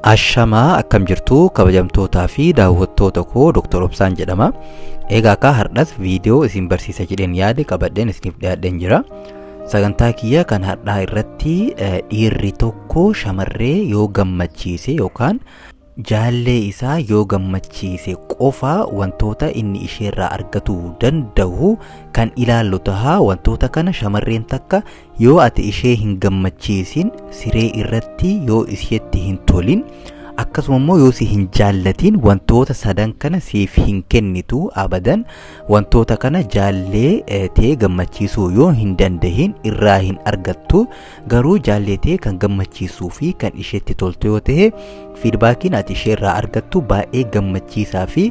Ashamaa akkam jirtu kabajamtootaa fi daawwattoota koo Dr. Obsaan jedhama. Egaa akka hardhas viidiyoo isin barsiisa jedheen yaade qabadheen isiniif dhiyaadheen jira. Sagantaa kiyya kan hadhaa irratti eh, dhiirri tokko shamarree yoo gammachiise yookaan Jaallee isaa yoo gammachiise qofa wantoota inni isheerraa argatuu danda'u kan ilaallu taha. Wantoota kana shamarreen takka yoo ati ishee hin gammachiisin, siree irratti yoo isheetti hin tolin, akkasuma immoo yoo si hin jaallatin wantoota sadan kana siif hin kennitu abadan. Wantoota kana jaallee eh, tee gammachiisuu yoo hin dandahin irraa hin argattu. Garuu jaalleetee kan gammachiisuu fi kan isheetti toltu yoo ta'e fiidbaakiin ati isheerraa argattu baay'ee gammachiisaa fi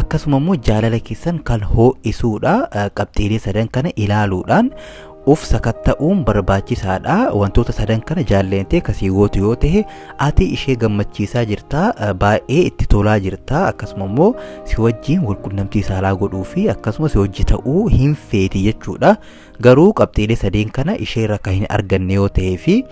akkasuma immoo jaalala keessan kan hoo'isuudha qabxiilee sadan kana ilaaluudhaan of sakatta'uun barbaachisaadha wantoota sadan kana jaalleentee kasii gootu yoo ta'e ati ishee gammachiisaa jirta baay'ee itti tolaa jirta akkasuma immoo si wajjiin walqunnamtii saalaa godhuu fi akkasuma si hojji ta'uu hin feeti jechuudha Garuu qabxiilee sadeen kana isheerra kan hin arganne yoo ta'ee fi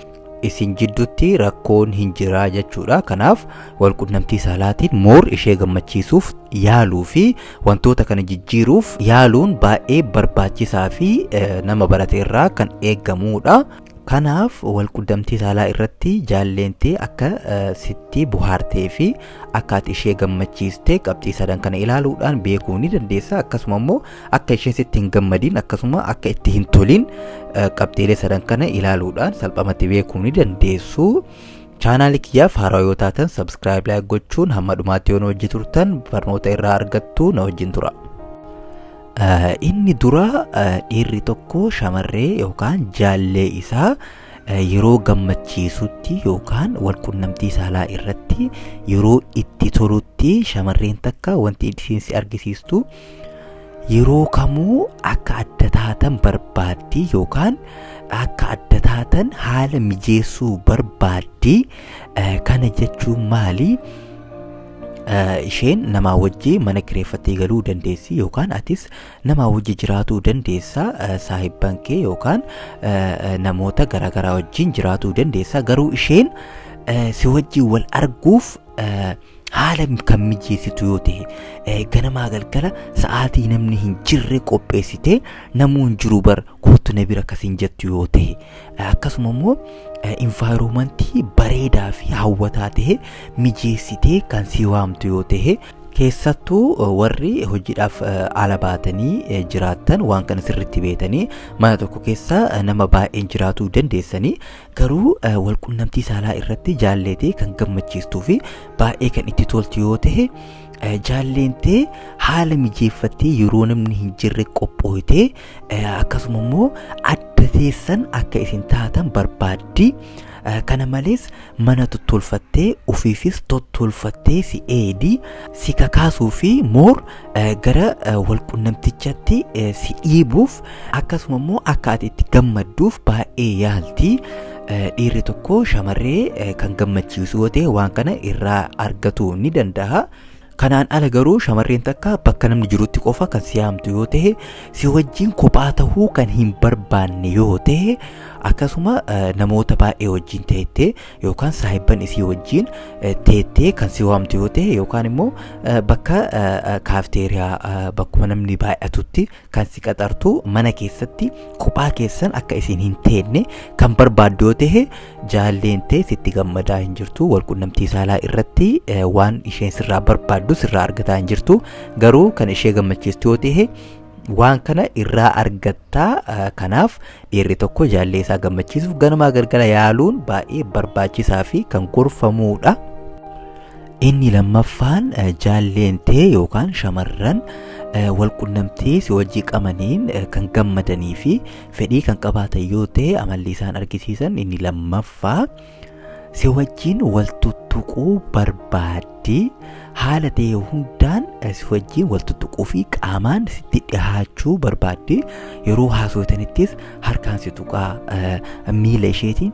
isin jidduutti rakkoon hin jiraa jechuudha. Kanaaf walqunnamtii saalaatiin moor ishee gammachiisuuf yaaluu fi wantoota kana jijjiiruuf yaaluun baay'ee barbaachisaa fi nama barate irraa kan eegamudha. Kanaaf walquddamtii saalaa irratti jaalleenti akka sitti buhaartee fi akka ati ishee gammachiiste qabxii sadan kana ilaaluudhaan beekuu ni dandeessa. Akkasuma immoo akka isheen sitti hin gammadiin akkasuma akka itti hin toliin qabxiilee sadan kana ilaaluudhaan salphamatti beekuu ni dandeessu. Chaanaalii kiyyaaf haaraa yoo taatan sabskiraayib laayik gochuun hamma dhumaatti yoo na wajji turtan barnoota irraa argattu na wajjin tura. Inni duraa dhiirri tokko shamarree yookaan jaallee isaa yeroo gammachiisutti yookaan walqunnamtii saalaa irratti yeroo itti tolutti shamarreen takka wanti isheen si argisiistu yeroo kamuu akka adda taatan barbaaddi yookaan akka adda taatan haala mijeessuu barbaaddi kana jechuun maali? eh, isheen namaa wajji mana kireeffattee galuu dandeessi yookaan atis namaa wajji jiraatuu dandeessa eh, saahibban kee yookaan eh, eh, namoota garaagaraa wajjin jiraatuu dandeessa garuu isheen eh, si wajjin wal arguuf eh, haala kan mijeessitu yoo ta'e eh, ganamaa galgala sa'aatii namni hin jirre qopheessitee namuu hin jiru bar kootu na bira akkasiin jettu yoo ta'e akkasuma immoo invaayiroomantii bareedaa fi hawwataa ta'e mijeessitee kan si waamtu yoo ta'e keessattuu warri hojiidhaaf ala baatanii jiraattan waan kana sirriitti beektanii mana tokko keessa nama baay'een jiraatuu dandeessanii garuu walqunnamtii saalaa irratti jaalleetee kan gammachiistuu fi baay'ee kan itti toltu yoo ta'e jaalleentee haala mijeeffattee yeroo namni hin jirre qophooytee akkasuma immoo adda teessan akka isin taatan barbaaddi kana malees mana tottolfattee ofiifis tottolfattee si eedi si kakaasuu fi moor gara walqunnamtichatti si dhiibuuf akkasuma immoo akka ati itti gammadduuf baay'ee yaalti dhiirri tokko shamarree kan gammachiisu yoo ta'e waan kana irraa argatu ni danda'a. Kanaan ala garuu shamarreen takka bakka namni jirutti qofa kan si yaamtu yoo ta'e si wajjin kophaa tahuu kan hin barbaanne yoo ta'e akkasuma eh, namoota baay'ee wajjin teettee yookaan saahibban isii wajjin eh, teettee kan si waamtu yoo ta'e yookaan immoo eh, bakka eh, eh, kaafteeriyaa eh, bakkuma namni baay'atutti kan si qaxartu mana keessatti kophaa keessan akka isin hin teenne kan barbaaddu yoo ta'e jaalleen ta'e sitti gammadaa hin jirtu walqunnamtii saalaa irratti eh, waan isheen sirraa barbaaddu sirraa argataa hin jirtu garuu kan ishee gammachiistu yoo ta'e waan kana irraa argattaa eh, kanaaf dhiirri tokko jaallee isaa gammachiisuuf ganamaa galgala yaaluun baay'ee barbaachisaa fi kan gorfamuudha. Inni lammaffaan jaalleen tee yookaan shamarran walqunnamtii si wajjii qabaniin kan gammadanii fi fedhii kan qabaatan yoo ta'e amalli isaan argisiisan inni lammaffaa si wajjiin wal tuttuquu barbaaddi haala ta'e hundaan si wajjiin wal tuttuquu fi qaamaan sitti dhihaachuu barbaaddi yeroo haasoftanittis harkaan si tuqaa miila isheetiin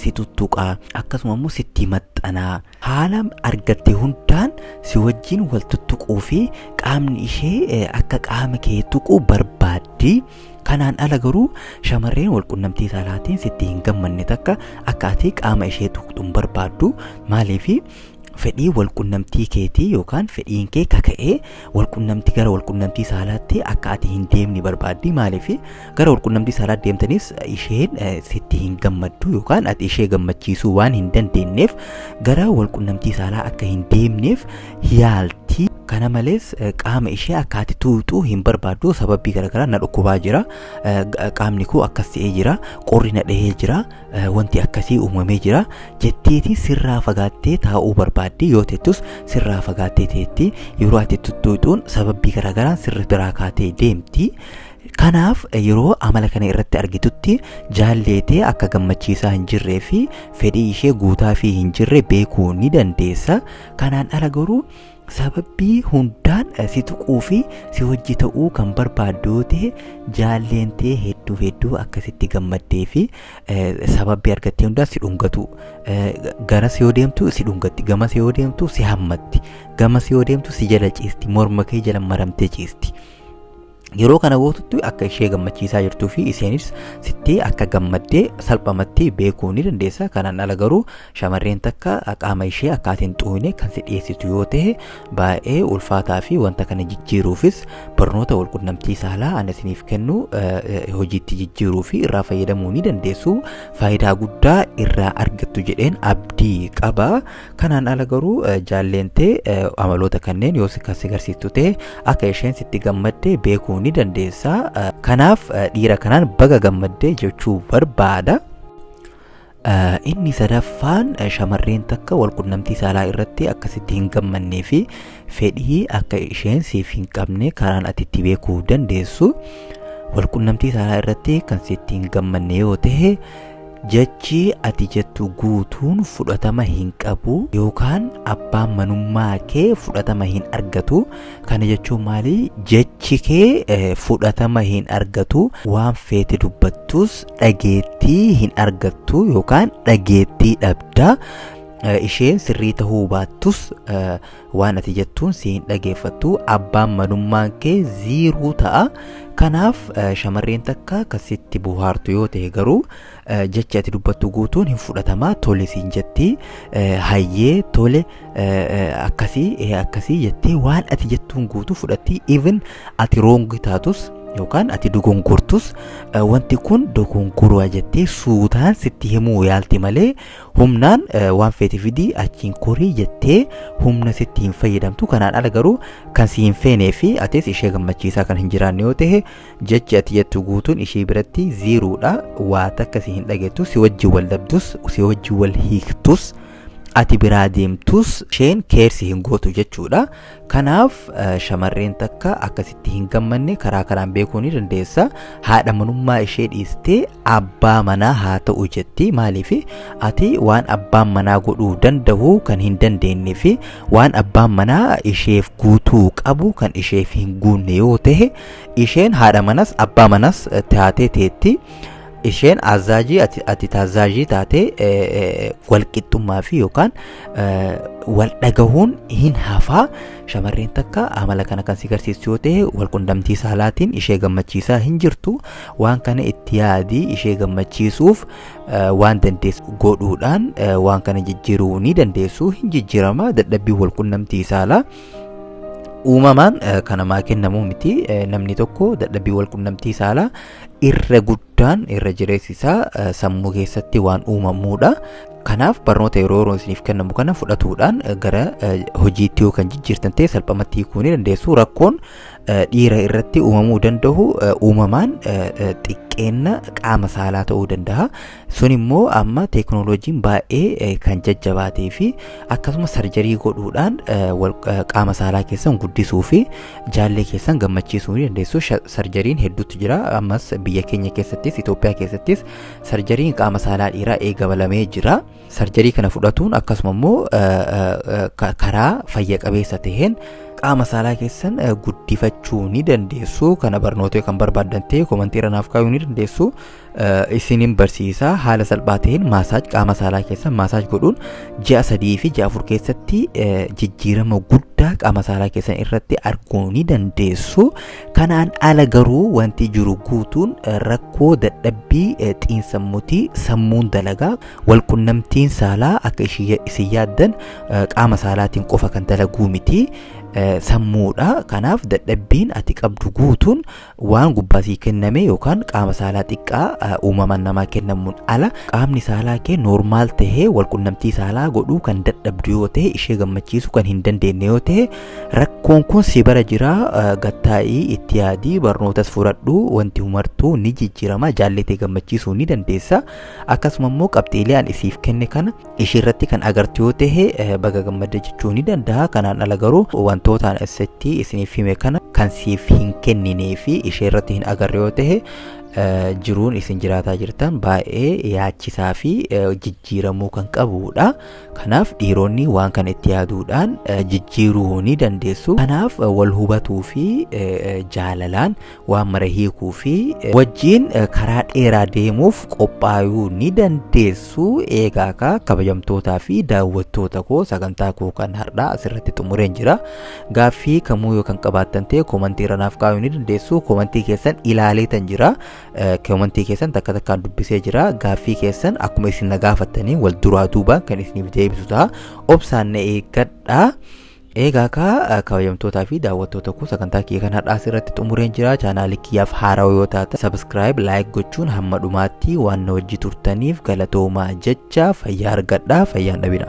si tuttuqaa akkasuma immoo sitti maxxanaa Haala argatte hundaan si wajjin wal tuttuquu fi qaamni ishee eh, akka qaama kee tuqu barbaaddi. Kanaan ala garuu shamarreen wal qunnamtii saalaatiin sitti hin gammanne takka akka ati qaama ishee tuqxu hin barbaaddu. Maaliif fedhii wal qunnamtii keetii yookaan fedhiin kee kaka'ee wal qunnamtii gara wal qunnamtii saalaatti akka ati hin deemne barbaaddi. Maaliif gara walqunnamtii saalaa deemtanis isheen sitti hin gammaddu yookaan ati ishee gammachiisuu waan hin dandeenyeef gara walqunnamtii saalaa akka hin deemneef yaalti. Kana malees qaama ishee akka ati tuuxu hin barbaaddu sababii garaagaraa na dhukkubaa jira qaamni koo akkas ta'ee jira qorri na dhahee jira wanti akkasii uumamee jira jetteeti sirraa fagaattee taa'uu barbaaddi yoo teettus sirraa fagaattee teetti yeroo ati tuttuuxuun sababii garaagaraan sirri biraa kaatee deemti. Kanaaf yeroo amala kana irratti argitutti jaalleetee akka gammachiisaa hin jirree fi fedhii ishee guutaa fi hin jirre beekuu ni dandeessa. Kanaan ala garuu sababbii hundaan si tuquu fi si wajji ta'uu kan barbaaddu yoo ta'e jaalleen ta'e hedduu hedduu akkasitti gammaddee fi sababbii argattee hundaan si dhungatu. Garas yoo deemtu si dhungatti, gamas yoo deemtu si hammatti, gamas yoo deemtu si jala ciisti, morma kee jala maramtee ciisti. Yeroo kana gootutti akka ishee gammachiisaa jirtuu fi isheenis sitti akka gammaddee salphamatti beekuu ni dandeessa. Kanaan ala garuu shamarreen takka qaama ishee akka ati hin xuuyne kan si dhiyeessitu yoo ta'e baay'ee ulfaataa fi wanta kana jijjiiruufis barnoota walqunnamtii saalaa ani isiniif kennu hojiitti jijjiiruu fi irraa fayyadamuu ni dandeessu. Faayidaa guddaa irraa argattu jedheen abdii qaba. Kanaan ala garuu jaalleen tee amaloota kanneen yoo kan si garsiistu ta'e akka isheen sitti gammadde beekuu ni dandeessa. Kanaaf dhiira kanaan baga gammadde jechuu barbaada. Inni sadaffaan shamarreen takka walqunnamtii saalaa irratti akka sitti hin gammannee fi fedhii akka isheen siif hin qabne karaan ati itti beekuu dandeessu walqunnamtii saalaa irratti kan sitti hin gammanne yoo ta'e Jechi ati jettu guutuun fudhatama hin qabu yookaan abbaan manummaa kee fudhatama hin argatu. Kana jechuun maali? Jechi kee eh, fudhatama hin argatu. Waan feete dubbattus dhageettii hin argattu yookaan dhageettii dhabda. Eh, Isheen sirrii ta'uu baattus eh, waan ati jettuun si hin dhageeffattu abbaan manummaan kee ziiruu ta'a kanaaf eh, shamarreen takka kasitti buhaartu yoo ta'e garuu eh, jechi ati dubbattu guutuun hin fudhatama tole siin jetti eh, hayyee tole eh, eh, akkasii eh, akkasii jettee waan ati jettuun guutuu fudhatti even ati roongi taatus yookaan ati dogongortus eh, wanti kun dogongoroo jettee suutaan sitti himuu yaalti malee Humnaan waan feete fidii achiin korii jettee humna sitti hin fayyadamtu kanaan ala garuu kan si hin feenee fi atis ishee gammachiisaa kan hin jiraanne yoo ta'e jechi ati jettu guutuun ishee biratti ziiruudha waa takka si hin dhageettu si wajjin wal dhabdus si wajjin wal hiiktus ati biraa deemtus isheen keersi hin gootu jechuudha Kanaaf shamarreen takka akkasitti hin gammanne karaa kanaan beekuu ni dandeessa. Haadha manummaa ishee dhiistee abbaa manaa haa ta'u jetti. Maaliif ati waan abbaan manaa godhuu danda'u kan hin dandeenye fi waan abbaan manaa isheef guutuu qabu kan isheef hin guunne yoo ta'e isheen haadha manas abbaa manas taatee teetti. isheen azaajii ati, ati taazaajii taatee eh, eh, walqixxummaa fi yookaan eh, wal dhagahuun hin hafaa shamarreen takka amala kana kan si garsiistu yoo ta'e wal qunnamtii saalaatiin ishee gammachiisaa hin jirtu waan kana itti yaadii ishee gammachiisuuf eh, waan dandeessu godhuudhaan eh, waan kana jijjiiruu ni dandeessu hin jijjiirama dadhabbii wal qunnamtii saalaa uumamaan eh, kan namaa kennamu miti Eh, namni tokko dadhabbii wal qunnamtii saalaa irra guddaan irra jireessi isaa eh, sammuu keessatti waan uumamuudha. Kanaaf barnoota yeroo yeroo isiniif kennamu kana fudhatuudhaan eh, gara eh, hojiitti yoo kan jijjiirtan ta'e salphamatti hiikuu ni dandeessu. Rakkoon eh, dhiira irratti uumamuu danda'u eh, uumamaan eh, eh, xiqqeenna qaama saalaa ta'uu danda'a. sun immoo amma teeknooloojiin baay'ee kan jajjabaatee fi akkasumas sarjarii godhuudhaan qaama saalaa keessan guddisuu fi jaallee keessan gammachiisuu ni dandeessu sarjariin hedduutu jira ammas biyya keenya keessattis Itoophiyaa keessattis sarjariin qaama saalaa dhiiraa eegabalamee jira sarjarii kana fudhatuun akkasuma immoo karaa fayya qabeessa ta'een qaama saalaa keessan guddifachuu ni dandeessu kana barnoota kan barbaaddan ta'e komantii irra naaf kaa'uu ni dandeessu isinin barsiisa haala salphaa ta'een maasaaj qaama saalaa keessa maasaaj godhuun ji'a sadii fi ji'a afur keessatti jijjiirama guddaa qaama saalaa keessan irratti arguu ni dandeessu kanaan ala garuu wanti jiru guutuun rakkoo dadhabbii xiinsammuutii sammuun dalagaa walqunnamtiin saalaa akka isin yaaddan qaama saalaatiin qofa kan dalaguu miti sammuudha kanaaf dadhabbiin ati qabdu guutuun Waan gubbaa sii kenname yookaan qaama saalaa xiqqaa uumamaan namaa kennamuun ala qaamni saalaa kee noormaal tahee walqunnamtii saalaa godhuu kan dadhabdu yoo ta'e ishee gammachiisuu kan hin dandeenye yoo ta'e rakkoon kun si bara jira gattaa'ii itti yaadii barnootas fudhadhu wanti humartuu ni jijjiirama jaallatee gammachiisuu ni dandeessa akkasuma immoo qabxiilee an isiif kenne kana ishii irratti kan agartu yoo ta'e eh, baga gammadde jechuu ni danda'a kanaan ala garuu wantootaan asitti isiniif hime kana kan siif hin kenninee fi ishee irratti hin agarre yoo ta'e eh, jiruun isin jiraataa jirtan baay'ee yaachisaa fi eh, jijjiiramuu kan qabuudha kanaaf dhiironni waan kana itti yaaduudhaan eh, jijjiiruu ni dandeessu kanaaf eh, wal hubatuu fi eh, eh, jaalalaan waan mara hiikuu fi wajjiin karaa dheeraa deemuuf qophaayuu ni dandeessu eegaa ka kabajamtootaa fi daawwattoota koo sagantaa koo kan har'aa asirratti xumureen jira gaaffii kamuu yoo kan qabaattan ta'e koomantii irra naaf kaa'uu ni dandeessu koomantii keessan ilaaleetan jira koomantii keessan takka takkaan dubbisee jira gaaffii keessan akkuma isin na gaafattanii wal duraa duubaan kan isiniif deebisu ta'a obsaan na eeggadhaa. Eegaa kaa kabajamtootaa fi daawwattoota koo sagantaa kiyya kan har'aas irratti xumureen jira chaanaalii kiyyaaf haarawa yoo taata sabiskiraayib laayik gochuun hamma dhumaatti waan na wajji turtaniif galatoomaa jecha fayyaa argadhaa fayyaan dhabina.